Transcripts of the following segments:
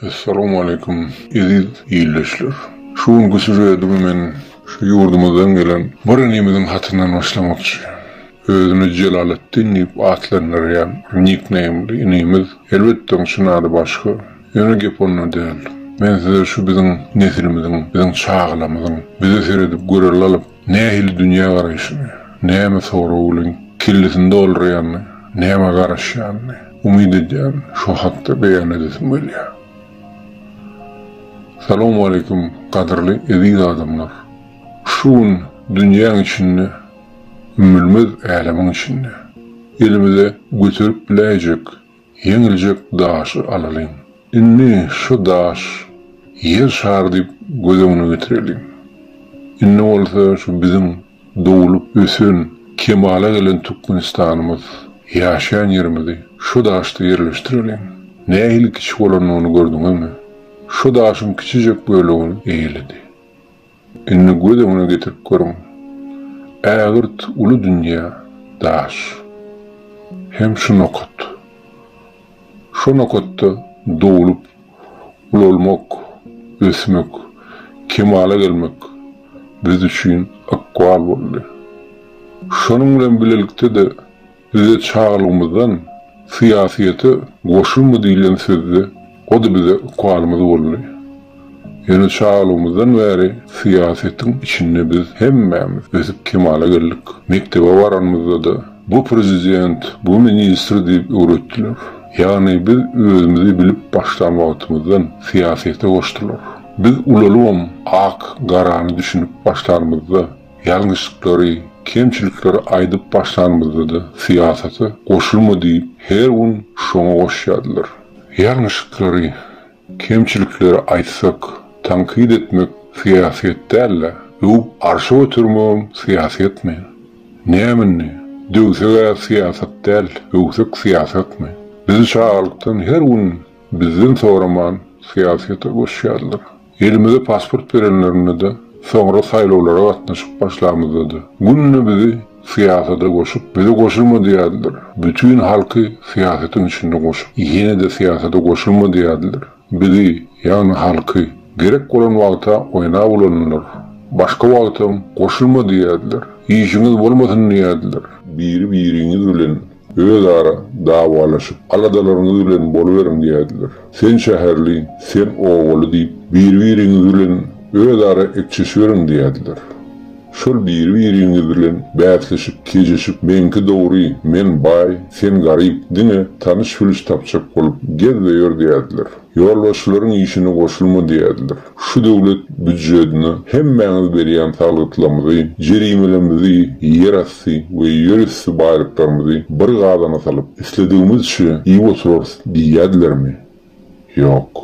Assalamu aleykum eziz ildeşler. Şu günki süjetimi men şu ýurdumyzdan gelen bir inimiziň hatyndan başlamakçy. Özüni Jelaletdin diýip atlandyrýan nikneýmli inimiz, elbetde onuň çyn ady başga. Ýöne gep onda däl. Men size şu biziň nesilimiziň, biziň çagalamyzyň bize seredip göre lalyp, nähili dünýägaraýşyny, näme sorag bilen kellesini doldurýanyny, nämä garaşýanyny, umyt edýän, şo hakda beýan edesim gelýär. Salowmaleýkim, gadyrly eziz adamlar! Şu gün dünýäň içinde, ümmülmez älemiň içinde elimize göterip biläýjek, Ýeňiljek daşy alalyň. Indi şu daş Ýer şary diýip göz öňüne getireliň. Indi bolsa şu biziň doglup ösen, kemala gelen Tükgenistanymyz, ýaşaýan ýerimizi şu daşda ýerleşdireliň. Nähili kiçi bolandygyny gördüňizmi? Şu daşyň kiçijek bölegini eýeledi. Indi göz öňüne getirip görüň, ägirt uly dünýä, daş. Hem şu nokat. Şo nokatda doglup, ulalmak, ösmek, kemala gelmek biz üçin ykbal boldy. Şonuň bilen bilelikde-de, Bize çagalygymyzdan syýasyýete goşulma diýlen sözde o-da bize ukalymyz boldy. Ýöne çagalygymyzdan bäri syýasyýetiň içinde biz hemmämiz ösüp kemala geldik. Mekdebe baranymyzda-da bu prezident, bu ministr diýip öwretdiler. Ýagny biz özümizi bilip başlan wagtymyzdan syýasyýete goşdular. Biz ulalybam ak, garany düşünip başlanymyzda, Ýalňyşlyklary, kemçilikleri aýdyp başlanymyzda-da syýasata goşulma diýip her gün şoňa goşýardylar. Ýalňyşlyklary, kemçilikleri aýtsak, tankyt etmek syýasyýet däl-de, öwüp arşa götermegem syýasyýetmi? Näme indi, döwseg-ä syýasat däl, öwsek syýasatmy? Bizi çagalykdan her gün bizden soraman syýasyýete goşýardylar. Elimize pasport berenlerinde-de, soňra saýlawlara gatnaşyp başlamyzda-da, günde bizi syýasada goşup, bize goşulma diýerdiler. Bütin halky syýasatyň içinde goşup, ýene-de syýasada goşulma diýerdiler. Bizi, ýagny halky, gerek bolan wagta oýnap ulandylar. Başga wagtam goşulma diýerdiler. Işiňiz bolmasyn diýerdiler. Biri-biriňiz bilen Özara dawalaşyp, aladalaryňyz bilen boluberiň diýerdiler. Sen şäherli, sen obaly diýip, biri-biriňiz bilen özara ekçeşiberiň diýerdiler. Şol biri-biriňiz bilen bäsleşip, kejeşip, meňki dogry, men baý, sen garyp, diňe tanyş-bilş tapjak bolup gez we ýör diýerdiler. Ýolbaşçylaryň işine goşulma diýerler. Şu döwlet býujetine hemmäňiz berýän salgytlarymyzy, jerimelerimizi, ýerasty we ýerüsti baýlyklarymyzy bir gazana salyp, isledigimizçe iýip oturarys diýýärdilermi? Ýok.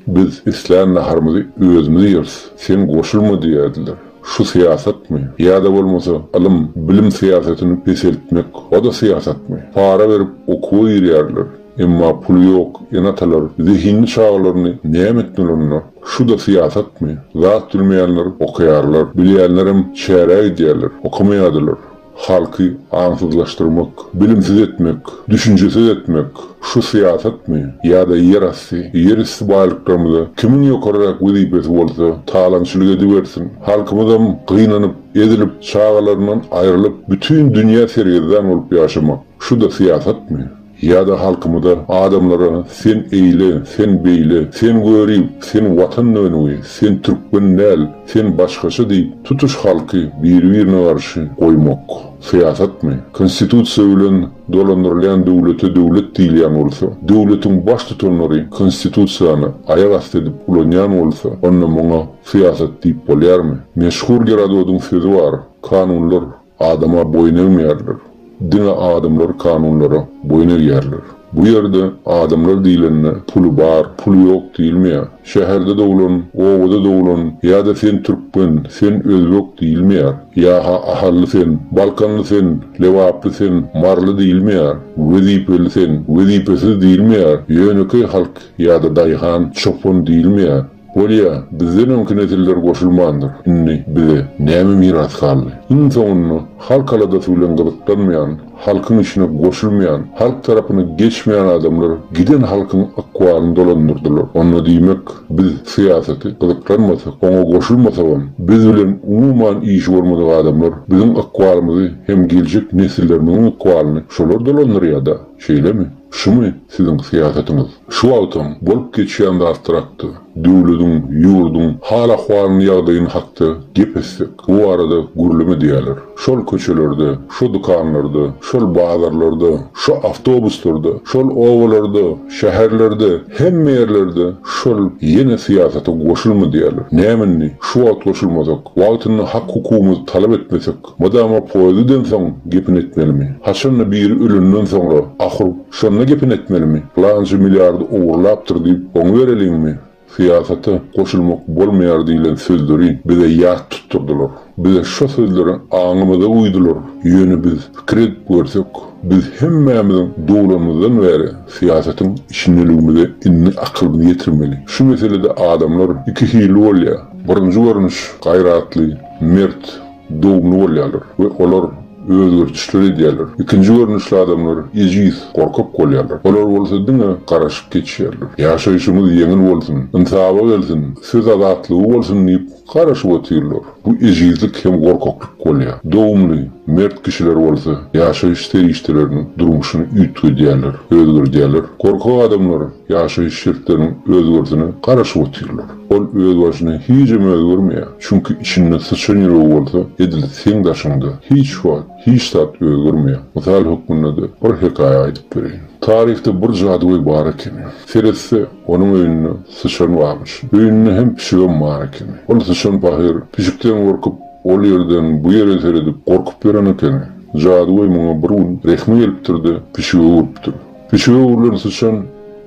Biz islän naharymyzy özümiz ýeris, sen goşulma diýýärdiler. Şu syýasatmy? Ýa-da bolmasa ylym, bilim syýasatyny peseltmek, o-da syýasatmy? Para berip okuwa girýärler. Emma puly ýok ene-atalar zehinli çagalaryny näme etmelirine? Şu-da syýasatmy? Zat bilmeýänler okaýarlar, bilýänlerem şähre gidýärler, okamaýardylar. Halky aňsyzlaşdyrmak, bilimsiz etmek, düşünjesiz etmek, şu syýasatmy? Ýa-da ýerasty, ýerüsti baýlyklarymyza kimiň ýokaryrak wezipesi bolsa, talaňçylyk edibersin. Halkymyzam gynanyp, ezilip, çagalaryndan aýrylyp, bütin dünýä sergezdan bolup ýaşamak, şu-da syýasatmy? Ýa-da halkymyza, adamlara sen eýle, sen beýle, sen görip, sen watan dönügi, sen türkmen däl, sen başgaça diýip, tutuş halky biri-birine garşy goýmak, syýasatmy? Konstitusiýa bilen dolandyrylýan döwlete döwlet diýilýän bolsa, döwletiň baştutanlary Konstitusiýany aýak asty edip ulanýan bolsa, onda muňa syýasat diýip bolýarmy? Meşhur Gerododyň sözi bar, Kanunlar, Adama boýun egmeýärler. Diňe adamlar kanunlara boýun egýärler. Bu ýerde adamlar diýlende puly bar, puly ýok diýilmeýär. Şäherde doglan, obada doglan ýa-da sen türkmen, sen özbek diýilmeýär. Ýa-ha ahally sen, balkanly sen, lebaply sen, maryly diýilmeýär. Wezipeli sen, wezipesiz diýilmeýär. Ýönekeý halk ýa-da daýhan, çopan diýilmeýär. Bolýa, bizden öňki nesiller goşulmandyr, indi bize näme miras galdy? Iň soňunda halk aladasy bilen gyzyklanmaýan, halkyň işine goşulmaýan, halk tarapyna geçmeýän adamlar giden halkyň ykbalyny dolandyrdylar. Onda diýmek, biz syýasaty gyzyklanmasak, oňa goşulmasagam, biz bilen umuman işi bolmadyk adamlar biziň ykbalymyzy hem geljek nesillerimiziň ykbalyny şolar dolandyrýa-da, şeýlemi? Şumy siziň syýasatyňyz? Şu wagtam bolup geçýän zatlar hakda, döwlediň, ýurduň hal-ahwalyny, ýagdaýyny hakda gep etsek, bu barada gürleme diýerler. Şol köçelerde, şu dükanlarda, şol bazarlarda, şu awtobuslarda, şol obalarda, şäherlerde, hemme ýerlerde şol ýene syýasata goşulma diýerler. Näme indi, şu wagt goşulmasak, wagtynda hak-hukugymyzy talap etmesek, Mydama poýezden soň gepini etmelimi? Haçanda biri ölenden soňra, ahyr, şonda gepini etmelimi? Pylançy milliardy ogurlapdyr diýip, oňa bereliňmi? Syýasata goşulmak bolmaýar diýlen sözleri bize ýat tutdurdylar. Bize şo sözleri aňymyza guýdular. Ýöne biz pikir edip görsek, biz hemmämiziň doglanymyzdan bäri syýasatyň içindeligimize indi akylymyzy ýetirmeli. Şu meselede adamlar iki hilli bolýar. Birinji görnüş, gaýratly, mert. dogumly bolýarlar we olar özgertişler edýärler. Ikinji görnüşli adamlar ejiz, gorkak bolýarlar. Olar bolsa diňe garaşyp geçýärler. Ýaşaýşymyz ýeňil bolsun, ynsaba gelsin, söz azatlygy bolsun diýip garaşyp otyrlar. Bu ejizlik hem gorkaklyk bolýar. Dogumly, mert kişiler bolsa ýaşaýyş serişdeleriniň durmuşyny üýtgedýärler, özgerdýärler. Gorkak adamlar ýaşaýyş şertleriniň özgersine garaşyp otyrlar. Ol özbaşyna hijim özgermeýär. Çünki içinde syçan ýüregi bolsa, edil seň daşyňda. Hiç wagt hiç zat özgermeýär. Mysal hökmünde-de bir hekaýa aýdyp bereýin. Taryhda bir jadygöý bar ekeni. Seretse, onuň öýünde syçan barmyş. Öýünde hem pişigem bar ekeni. Ol syçan pahyr, pişikden gorkup, ol ýerden bu ýere seredip, gorkup ýören ekeni. Jadygöý muňa bir gün rehmi gelipdir-de, pişige öwrüpdir. Pişige öwrülen syçan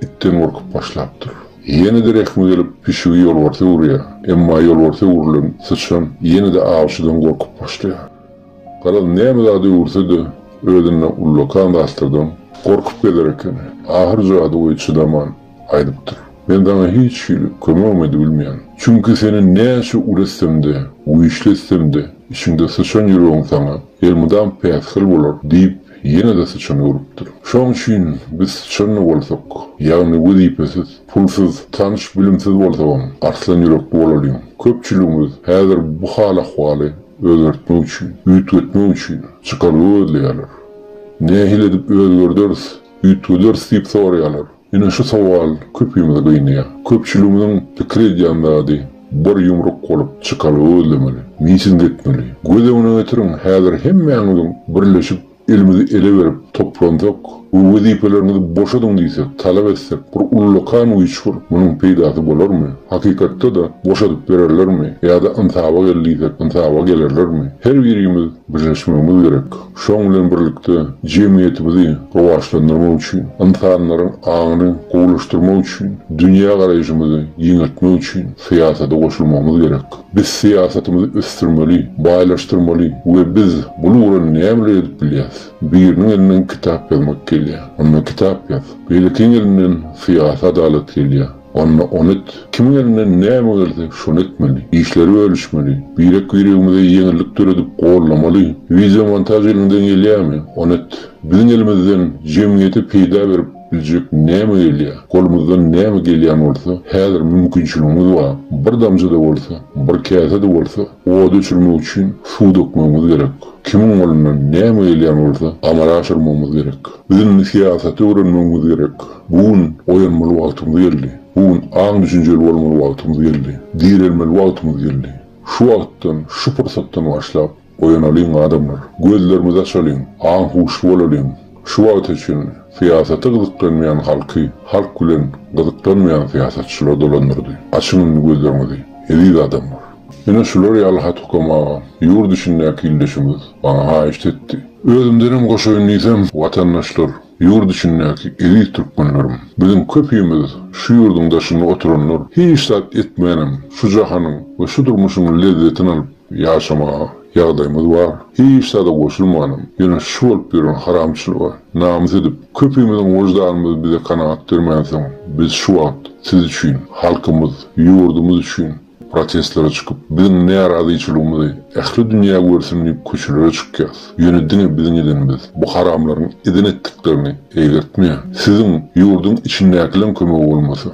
itden gorkup başlapdyr. Ýene-de rehmi gelip, pişigi ýolbarsa öwürýär. Emma ýolbarsa öwrülen syçan ýene-de awçydan gorkup başlaýar. Garaz, näme zat öwürse-de, özünde ullakan zatlardan gorkup gezer eken. Ahyr jady goýy çydaman aýdypdyr, Men saňa hiç hili kömegem edibilmeýän. Çünki seni näçe uly etsem-de, güýçli etsem-de, içiňde syçan ýüregiň saňa elmydam päsgel bolar diýip, Ýene-de syçan ölüpdir. Şoň üçin biz syçan-da bolsak, ýagny wezipesiz, pulsuz, tanyş-bilimsiz bolsagam, arslan ýürekli bolalyň. Köpçüligimiz häzir bu hal-ahwaly özgertmek üçin, üýtgetmek üçin çykalga gözleýärler. Nähili edip özgerderis, üýtgederis diýip soraýarlar. Ine şu sowal köpimizi gynaýar. Köpçüligimiziň pikir edýän zady, bir ýumruk bolup çykalga gözlemeli, miting etmeli. Göz öňüne getiriň, häzir hemmäňiziň birleşip elimizi ele berip toplansak we wezipeleriňizi boşadyň diýsek, talap etsek, bir ullakan güýçgür, munuň peýdasy bolarmy? Hakykatda-da boşadyp bererlermi? Ýa-da ynsaba gel diýsek, ynsaba gelerlermi? Her birimiz birleşmegimiz gerek. Şonuň bilen birlikde, jemgyýetimizi rowaçlandyrmak üçin, ynsanlaryň aňyny gowulaşdyrmak üçin, dünýägaraýşymyzy giňeltmek üçin syýasata goşulmagymyz gerek. Biz syýasatymyzy ösdürmeli, baýlaşdyrmaly we biz bul ugra nämeler edip bilýäs? Biriniň elinden kitap ýazmak gelýär. Onda kitap ýaz. Beýlekiň elinden syýasy adalat gelýär. Onda ony et. Kimiň elinden näme gelse, şony etmeli. Işleri bölüşmeli. Birek-biregimize ýeňillik döredip, gollamaly. Wideomontaž eliňden gelýärmi, ony et. Biziň elimizden jemgyýete peýda berip biljek näme gelýär? Golumyzdan näme gelýän bolsa, häzir mümkinçiligimiz bar. Bir damja-da bolsa, bir käse-de bolsa ody öçürmek üçin suw dökmegimiz gerek. Kimiň golundan näme gelýän bolsa, amala aşyrmagymyz gerek. Biz indi syýasaty öwrenmegimiz gerek. Bu gün oýanmaly wagtymyz geldi. Bu gün aň-düşünjeli bolmaly wagtymyz geldi. Direlmeli wagtymyz geldi. Şu wagtdan, şu pursatdan başlap, oýanalyň, adamlar! Gözlerimizi açalyň, aň-huşly bolalyň! Şu wagta çenli syýasata gyzyklanmaýan halky halk bilen gyzyklanmaýan syýasatçylar dolandyrdy. Açyň indi gözleriňizi, eziz adamlar! Ine şular ýaly hat-ukam agam, ýurt içindäki ildeşimiz maňa haýyşt etdi. Özümdenem goşaýyn diýsem, watandaşlar, ýurt içindäki eziz türkmenlerim, biziň köpimiz şu ýurduň daşynda oturanlar hiç zat etmänem şu jahanyň we şu durmuşyň lezzetini alyp ýaşamaga ýagdaýymyz bar. Hiç zada goşulmanam, ýöne şu bolup ýören haramçylyga namys edip, köpimiziň wyždanymyz bize kanagat bermänsoň, biz şu wagt siz üçin, halkymyz, ýurdumyz üçin, Protestlere çykyp, biziň närazyçylygymyzy ähli dünýä görsün diýip köçelere çykýas. Ýöne diňe biziň edenimiz bu haramlaryň eden etdiklerini eýgertmeýär. Siziň ýurduň içindäkileriň kömegi bolmasa.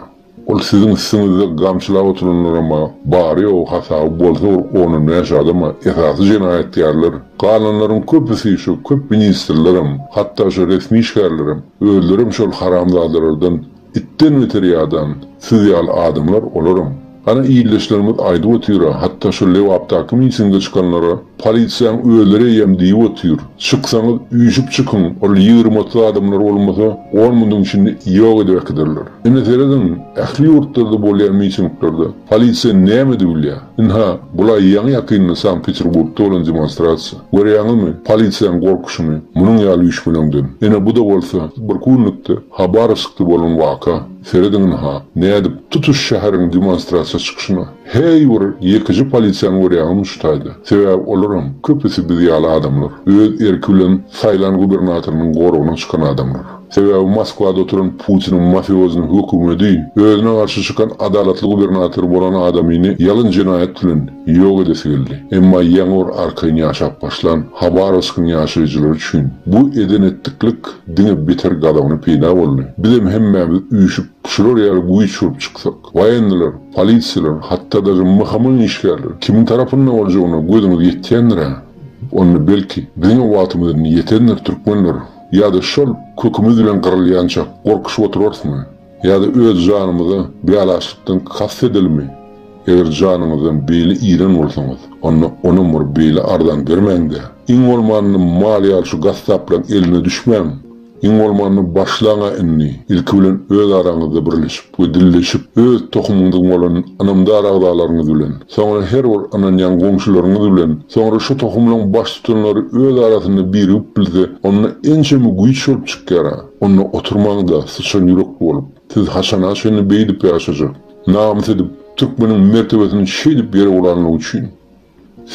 Ol siziň üstüňizde gamçylap oturanlaram-a bary-ýogy hasaby bolsa bir on-on bäş adam-a esasy jenaýatkarlar. Galanlaryň köpüsi şu köp ministrlerem, hatda şu resmi işgärlerem, özlerem şol haramzadalardan. Itden beter ýadan siz ýaly adamlar olaram. Ana ildeşlerimiz aýdyp otyra hatda şu Lebapdaky mitinge çykanlara polisiýaň özleri eýýäm diýip otyr. Çyksaňyz üýşüp çykyň ol ýigrimi otuz adamlar bolmasa on munyň içinde ýok edip äkiderler. Indi serediň ähli ýurtlarda bolýan mitinglerde polisiýa näme edip bilýä. Ynha bulaý ýaňy ýakynda Sankt Peterburgda bolan demonstrasiýa. Görýäňizmi polisiýaň gorkuşyny munuň ýaly üýşgeleňden. Ene buda bolsa bir künlükde. Habar çykdy bolan waka. Serediňinha, nädip, tutuş şäheriň demonstrasiýa çykyşyna heý bir ýekeje polisiýany görýäňizmi şu taýda? Sebäbi olaram, köpüsi biz ýaly adamlar. Öz erki bilen saýlan gubernatorynyň goragyna çykan adamlar. Sebäbi Moskwada oturan Putiniň mafiozny hökümedi, özüne garşy çykan adalatly gubernator bolan adamyny ýalyn jenaýat bilen, ýok edesi geldi. Emma ýaňy-bir arkaýyn ýaşap başlan Habarowskyň ýaşaýjylary üçin bu eden-etdiklik diňe beter gazabyny peýda boldy. Bizem hemmämiz üýşüp, şular ýaly güýç bolup çyksak, waýenniler, polisiýalar, hatda daže MHM-iň işgärleri kimiň tarapynda boljagyna gözüňiz ýetýändir-ä? Onda, belki, biziňem wagtymyz indi ýetendir, türkmenler! Ýa-da şol kökümiz bilen gyrylýançak gorkuşyp oturarysmy? Ýa-da öz janymyza bialaçlykdan kast edeliňmi? Eger janyňyzdan beýle iren bolsaňyz, onda onam bir beýle arzan bermäň-dä. Iň bolmanda mal ýaly şu gassaplaň eline düşmäň. Iň bolmanda başlaň-a indi, ilki bilen öz araňyzda birleşip we dilleşip, öz tohumyňyzyň bolan ynamdar agzalaryňyz bilen, soňra her bir ynanýan goňşularyňyz bilen, soňra şu tohumlaň baştutanlary öz arasynda birigip bilse, onda ençeme güýç bolup çykýar-a. Onda oturmaň-da, syçan ýürekli bolup, siz haçana çenli beýdip ýaşajak? Namys edip, türkmeniň mertebesiniň şeýdip ýere ulanlygy üçin.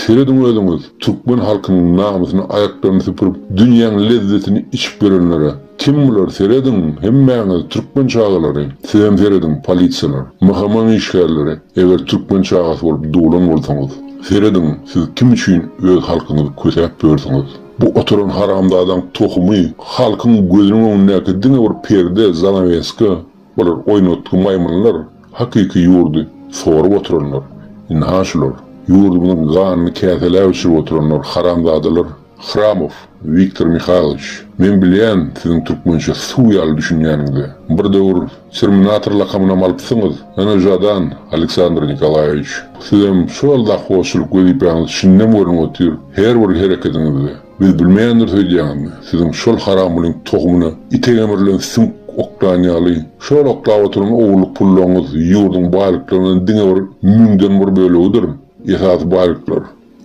Serediň özüňiz, türkmen halkynyň namysyny aýaklaryny süpürip, dünýäň lezzetini içip ýörenlere. Kim bular, serediň, hemmäňiz, türkmen çagalary! Sizem serediň, polisiýalar, MHM-iň işgärleri, eger türkmen çagasy bolup doglan bolsaňyz. Serediň, siz kim üçin öz halkyňyzy kösäp ýörsüňiz? Bu oturan haramzadaň tohumy halkyň gözüniň öňündäki diňe bir perde, zanaweska, bular oýnatgy maýmynlar, hakyky ýurdy sorup oturanlar, indi ha şular, ýurdumyzyň ganyny käseläp içirip oturanlar haramzadalar, Hramow Wiktor Mihailowiç, men bilýän siziň türkmençe suw ýaly düşünýäniňizi, bir döwür Terminator lakamynam alypsyňyz, Ýöne Žadan, Aleksandr Nikolaýewiç, sizem şol lahwozçylyk wezipäňizi çinden görnüp otyr, her bir hereketiňizde. Biz bilmeýändiris öýdýäňizmi? Siziň şol haramgulyň tohumyna ite gemrilen süňk oklan ýaly, şol oklap oturan ogurlyk pullaryňyz ýurduň baýlyklarynyň diňe bir müňden bir bölegidir. Esasy baýlyklar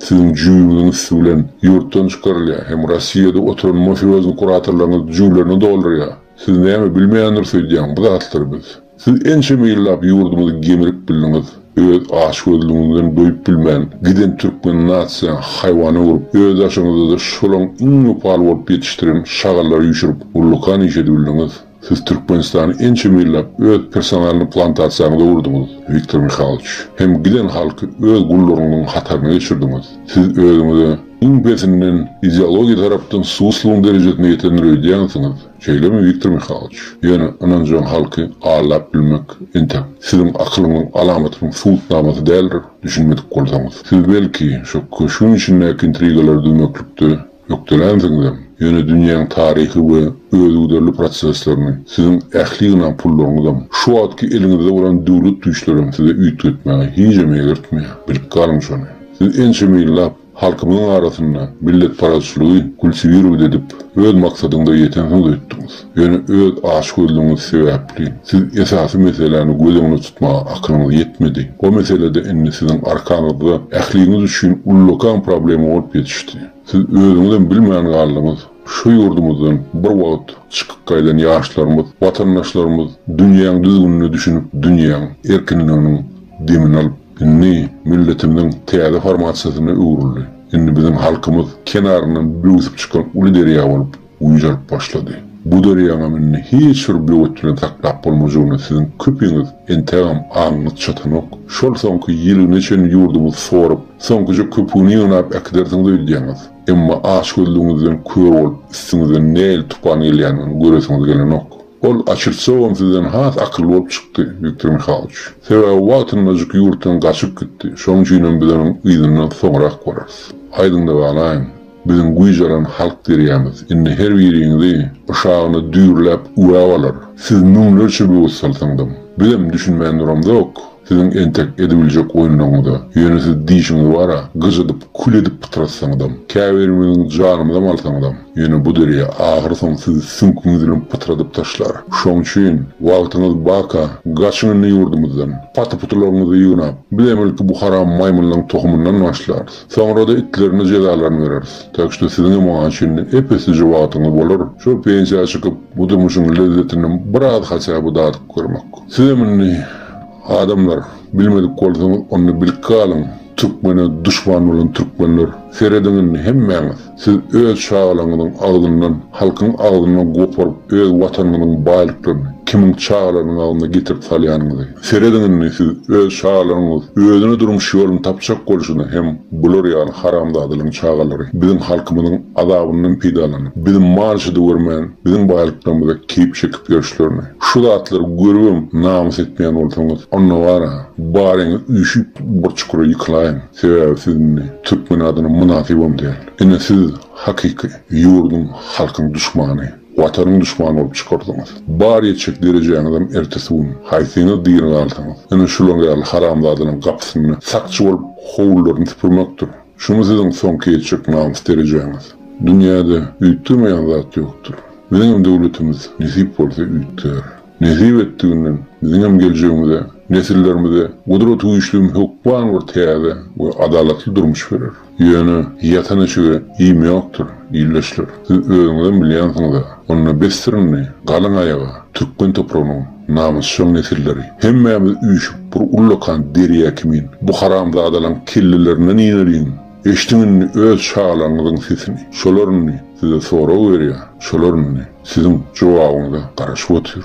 siziň jübüňiziň üsti bilen ýurtdan çykarylýar hem Rossiýada oturan mafiozni kuratorlaryňyz jüblerini doldurýar. Siz näme bilmeýändiris öýdýäň bu zatlary biz. Siz ençeme ýyllap ýurdumyzy gemirip bildiňiz öz açgözlügiňizden doýup bilmän giden türkmen nasiýaň haýwan öwrüp öz daşyňyzada şolaň iň wepal bolup ýetişdiren şagallary üýşürip ullukan iş edibildiňiz siz türkmenistany ençeme ýyllap öz personalny plantasiýaňyz öwürdiňiz Wiktor Mihalyç hem giden halky öz gullaryňyzyň hataryna geçirdiňiz siz özüňize Iň pesinden, ideologiýa tarapdan susslugyň derejesine ýetendir öýdýänsiňiz, şeýlemi, Wiktor Mihaloç? Ýöne ynanjaň halky aldap bilmek, entek, siziň akylyňyň alamatynyň subutnamasy däldir, düşünmedik bolsaňyz. Siz, belki, şo köşgüň içindäki intrigalary düzmeklikde ökdelänsiňizem, ýöne dünýäň taryhy we özügiderli proseslerini, siziň ähli ýygnan pullaryňyzam, şu wagtky eliňizde bolan döwlet güýçlerem size üýtgetmäge hijem eýgertmeýär. Bilip galyň şony! Siz ençeme ýyllap halkymyzyň arasynda milletparazçylygy gülsübirewd edip, öz maksadyňyza ýetensiňiz öýtdüňiz. Ýöne öz açgözlügiňiz sebäpli, siz esasy meseläni göz öňüne tutmaga akylyňyz ýetmedi. O meselede indi siziň arkaňyzda ähliňiz üçin ullakan problema bolup ýetişdi. Siz özüňizem bilmän galdyňyz, şu ýurdumyzdan bir wagt çykyp gaýdan ýaşlarymyz, watandaşlarymyz dünýäň düzgünine düşünip, dünýäň erkinliginiň demini alyp, Indi milletimiziň täze formasyýasyna öwrüldi. Indi biziň halkymyz kenaryndan böwsüp çykan uly derýa bolup guýjalyp başlady. Bu derýaňam indi hiç bir böwet bilen saklap bolmajagyna siziň köpiňiz entegem aňyňyz çatanok. Şol soňky ýiligine çenli ýurdumyzy sorup, soňkuja köpügini ýygnap äkidersiňiz öýdýäňiz. Emma açgözlügiňizden kör bolup üstüňizden nähili tupan gelýändigini göresiňiz gelenok. Ol açytsogam sizden has akylly bolup çykdy, Wiktor Mihaloç. Sebäbi wagtyndajyk ýurtdan gaçyp gitdi, şoň üçinem biz onuň yzyndan soňrak bararys. Aýdyňda galaýyň, biziň güýç alan halk derýämiz indi her biriňizi yşagyna düýrläp üwäp alar. Siz müňlerçe böwet salsaňdam, bizem düşünmän duramzok. Siziň entek edibiljek oýunlaryňyz-a. Ýöne siz diýşiňiz bar-a, gyjadyp, kül edip pytrasaňyzam, käbirimiziň janymyzam alsaňyzam, ýöne bu derýa ahyrsoňy sizi süňküňiz bilen pytradyp taşlar. Şoň üçin, wagtyňyz barka, gaçyň indi ýurdumyzdan. Paty-putularyňyzy ýygnap, biz emelki bu haram maýmynlaryň tohumyndan başlarys. Soňra-da itlerine jezalaryny bereris. Tak şto siziňem oňa çenli ep-eslije wagtyňyz bolar, şol pensiýa çykyp, bu durmuşyň lezzetini biraz haçaby dadyp görmek. Sizem indi. Adamlar bilmedik bolsaňyz onda bilip galyň türkmene duşman bolan türkmenler serediň indi hemmäňiz siz öz çagalaňyzyň agzyndan halkyň agzyndan goparyp öz watanyňyzyň baýlyklaryny kimiň çagalarynyň agzyna getirip salýanyňyzy serediň indi siz öz çagalaryňyz özüne durmuş ýoluny tapjak bolşuna hem bular ýaly haramzadalaryň çagalary biziň halkymyzyň azabyndan peýdalanyp bizi mal şydy görmän biziň baýlyklarymyza keýp çekip ýörşlerini Şu zatlary görübem namys etmeýän bolsaňyz, onda bara, baryňy üýşüp bir çukura ýykylaýyň, sebäbi siz indi türkmen adyna mynasybam däl. Ine siz hakyky ýurduň, halkyň duşmany, Watanyň duşmany bolup çykardyňyz. Bar ýetjek derejäňizem ertesi gün, haýsyňyz diri galsaňyz, ine şular ýaly haramzadalaryň gapysynda sakçy bolup howlularyny süpürmekdir. Şumy siziň soňky ýetjek namys derejäňiz. Dünýäde üýtgemeýän zat ýokdur. Biziňem döwletimiz nesip bolsa üýtgär. Nesip etdiginden biziňem geljegimize, nesillerimize Gudrat Güýçlüm hökman bir täze we adalatly durmuş berer. Ýöne ýatan eşige iým ýokdur, ildeşler. Siz özüňizem bilýänsiňiz-ä. Onda bessirin indi, galyň aýaga, türkmen topragynyň Namysjaň nesilleri, hemmämiz üýşüp bir ullakan derýa kimin bu haramzadalaň kellelerinden ineliň! Eşdiň indi öz şalygyňyzyň sesini, şolar indi size sorag berýär, şolar indi siziň jogabyňyza garaşyp otyr.